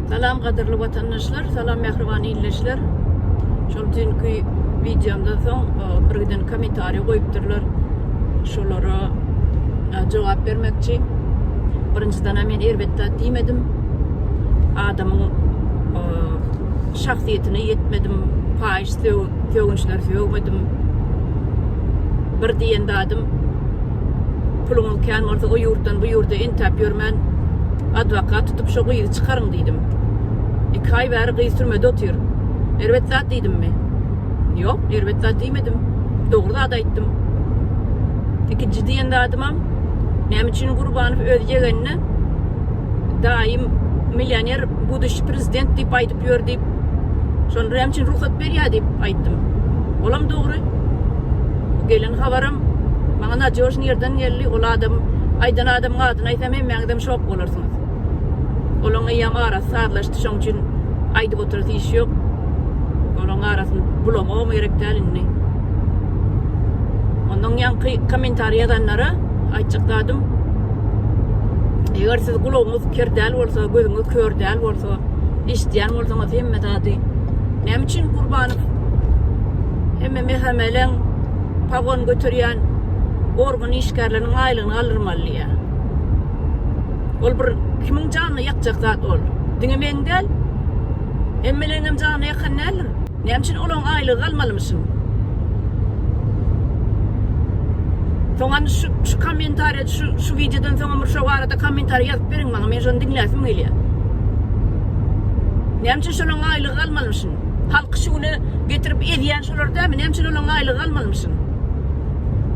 Salam gadyrly watandaşlar, salam mähriban illeşler. Şol dünkü videomdan soň e, bir giden kommentariý goýupdyrlar. Şolara e, jogap bermekçi. Birinjiden men erbetde diýmedim. Adamyň e, şahsyýetine ýetmedim, paýyş sögünçleri sögmedim. Bir diýen dadym Puluňyz kän bolsa o ýurtdan bu ýurda entäp ýörmän adwokat tutup şo gyzy çykaryň diýdim. Iki aý bäri gyz türmede otyr. Erbet zat diýdimmi? Ýok, erbet zat diýmedim. Dogry zat aýtdym. Ikinji diýen zadymam näme üçin Gurbanow öz ýegenine daýym millioner, buduş prezident diýip aýdyp gidip ýör diýip, şony näme üçin rugsat berýär diýip aýtdym. Olam dogry. Bu gelen habaram maňa nadýožny ýerden geldi. Ol adam, aýdan adamyň adyny aýsam hemmäňizem şok bolarsyňyz. Olaň eýýäm arasy sazlaşdy, şoň üçin aýdyp oturasy iş ýok. Olaň arasyny bulamagam gerek däl indi. Ondan ýaňky kommentariý ýazanlara aýtjak zadym, eger siz gulagyňyz ker däl bolsa, gözüňiz kör däl bolsa, Ýoksa eşitýän bolsaňyz hemme zady. Näme üçin Gurbanow hemme mehameleň pagon göterýän organ işgärleriniň aýlygyny galdyrmaly diýýä. Ol bir kimiň janyny ýakjak zat ol. Diňe meň däl. Hemmeleňem janyny ýakan däldir. Näme üçin olaň aýlygy galmalymyşyn. Soňam şu şu kommentariýa şu şu wideodan soňam bir şo barada kommentariýa ýazyp beriň maňa men şony diňläsim gelýär. Näme üçin şolaň aýlygy galmalymyşyn. Halky şu güne getirip ezýän şolar dälmi näme üçin olaň aýlygy galmalymyşyn.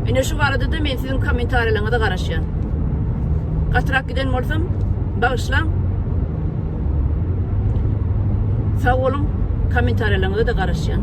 Ine şu barada da men siziň kommentariýalaryňyza garaşýan. Gatyrak giden bolsam bagyşlaň. Sag boluň, kommentariýalaryňyza-da garaşýan.